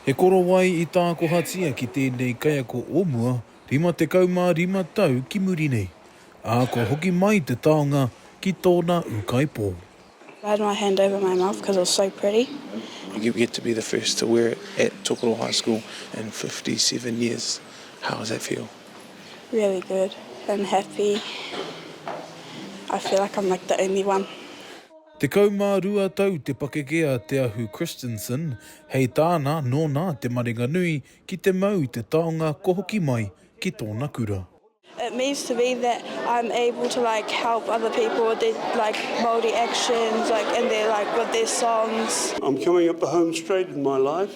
He korowai i tākohatia ki tēnei kaiako o mua 55 tau ki muri nei, ā, kua hoki mai te taonga ki tōna ūkaipō. I had my hand over my mouth because it was so pretty. You get to be the first to wear it at Tokoro High School in fifty seven years, how does that feel? Really good and happy, I feel like I'm like the only one. Tekau mā rua tau te pakeke a Te Ahu Christensen, hei tāna, nōna te marenga nui ki te mau te taonga kua hoki mai ki tōna kura. It means to me that I'm able to like help other people with their like Māori actions like and their like with their songs. I'm coming up the home straight in my life.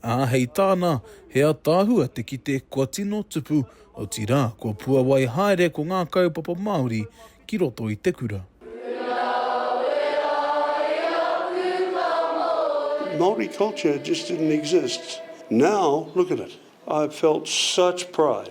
Ā, hei tāna, he ataahua te kite kua tino tupu, otirā, kua puawai haere ko ngā kaupapa Māori ki roto i te kura. Māori culture just didn't exist. Now, look at it. I've felt such pride.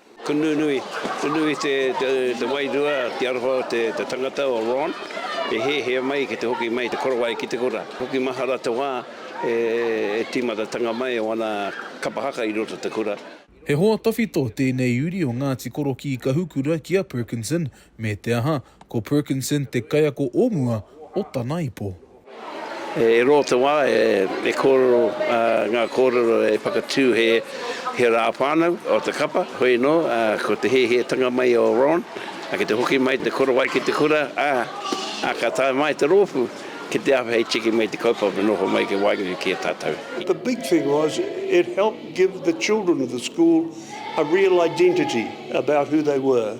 Ko nunui, nunui te wairua ki aroha o te tangata o Ron e hehea mai ki te hoki mai te korowai ki te kura. Hoki mahara te wā e timatatanga mai o ana kapa haka i roto te kura. He hoa tawhito tēnei uri o Ngāti Korokī Kahukura ki a Perkinson Me te aha, ko Perkinson te kaiako o mua o tana ipo. E rua te wā e kōrero ngā kōrero e whakatū he rā whānau o te kapa, hoi anō, ko te hiahiatanga mai o Ron ki te hoki mai te korowai ki te kura, ā, ka tae mai te rōpū ki te awhi hei tiki mai te kaupapa noho mai ki waenganui ki a tātou. The big thing was it helped give the children of the school a real identity about who they were.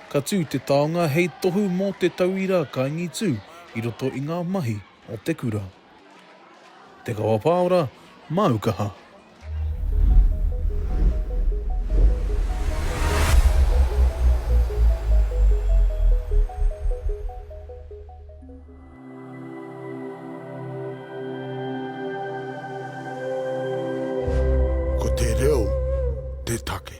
Ka tū te taonga hei tohu mō te tauira kaingitū i roto i ngā mahi o te kura. Te Kawapaora, Māu Kaha. Ko te reo te take.